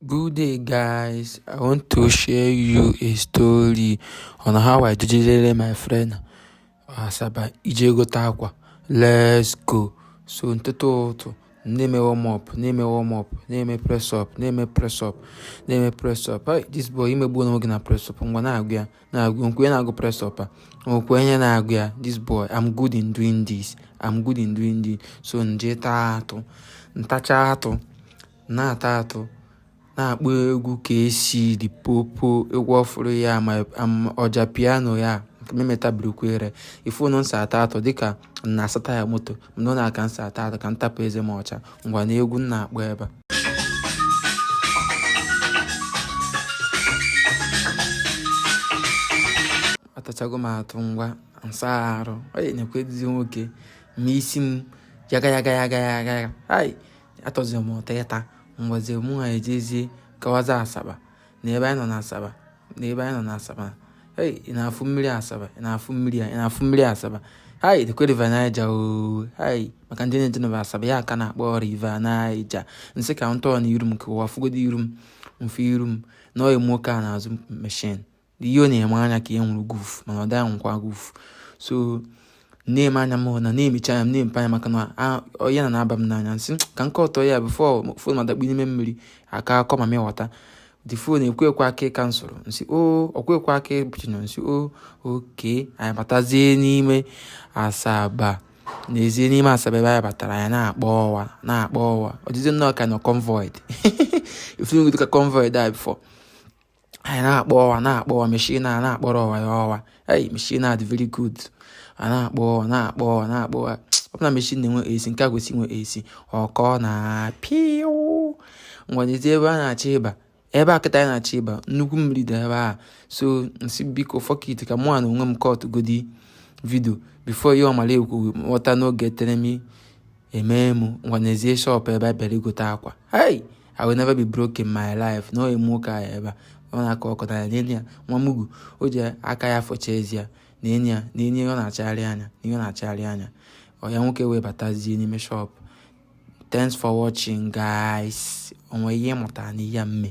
Good day guys, I want to share you a story on how I jidere my friend Asaba ije gote akwa. Let's go. So n'ụtụtụ na-eme warm up na-eme warm up na-eme press up na-eme press up na-eme press up hey, this boy emegbuo onwe ya na press up ngwa na-agụ ya na-agụ nkwe na-agụ press up a nkwe onye na-agụ ya this boy I'm good in doing this I'm good in doing this so nje taa atụ ntacha atụ na-ata atụ na-akpọ egwu Kcee Limpopo egwu ọfụrụ ya ma Ojapiano ya memetabirikwere ị fụnụ nsi ata atụ dịka na-asa taya moto mana ọ na-aka nsi ata atụ ka ntapụ eze m ọcha ngwa na egwu n na-akpọ ebe a atachago m atụ ngwa nsaa arụ ọ na-ekwe nwoke ma isi m yaga yaga yaga yaga ai atọzi m ụtọ ịta ngwazi mụ na ya ejezie gawazie asaba na ebe anyị nọ na asaba na ebe anyị nọ na asaba ei ị na-afụ mmiri asaba ị na-afụ mmiri a ị na-afụ mmiri asaba hai the River Niger oo hai maka ndị na-ejenuba asaba ya ka a na-akpọ River Niger nsị ka m turn iru m ka ụwa fụgodi iru m mfe iru m na ọyị nwoke a n'azụ machine ihe ọ na-eme anya ka e nwụrụ guf mana ọ dịghị anwụkwa guf so na-eme anya m na na-emecha anya m na-emepe anya maka na ya na na-aba m n'anya nsị ka n kọtọ ya bifo fon m adakpu n'ime mmiri aka akọ ma m igota the phone ekwekwa aka ịka m soro nsi o ọkwekwa aka ịbụchino nsi o okay anyị batazie n'ime asaba nezie n'ime asaba ebe anyị batara anyị na-akpọ ọwa na-akpọ ọwa ọdịzi nnọọ ka a nọ convoy ị fụnụgodi ka convoy a bifo anyị na-akpọ ọwa na-akpọ ọwa machine a na-akpọrọ ọwa ya ọwa ei machine a dị very good a na-akpọ ọwa na-akpọ ọwa na-akpọ ọwa ọ bụ na machine na-enwe AC nke a kwesị inwe AC ọkọ na piu ngwa nezie ebe a na-achọ ịba ebe a kịta anyị na-achọ ịba nnukwu mmiri dị ebe a so nsị biko fuck it ka mụ na onwe m kọt godi vidio bifo ihe ọmara ekwu ghọta n'oge teremi emee m ngwa nezie shọpụ ebe a bịara igote akwa hey i will never be broke in my life nee ọyị nwoke ahụ ebe a ọ na-akọ ọkọ na n'enyi ya nwa mugu o ji aka ya fọcha ezi ya na enyi ya na enyi ọ na-achagharị anya na ihe ọ na-achagharị anya ọyị nwoke wee batazie n'ime shọpụ thanks for watching guys o nwee ihe ị mụtara na ihe m me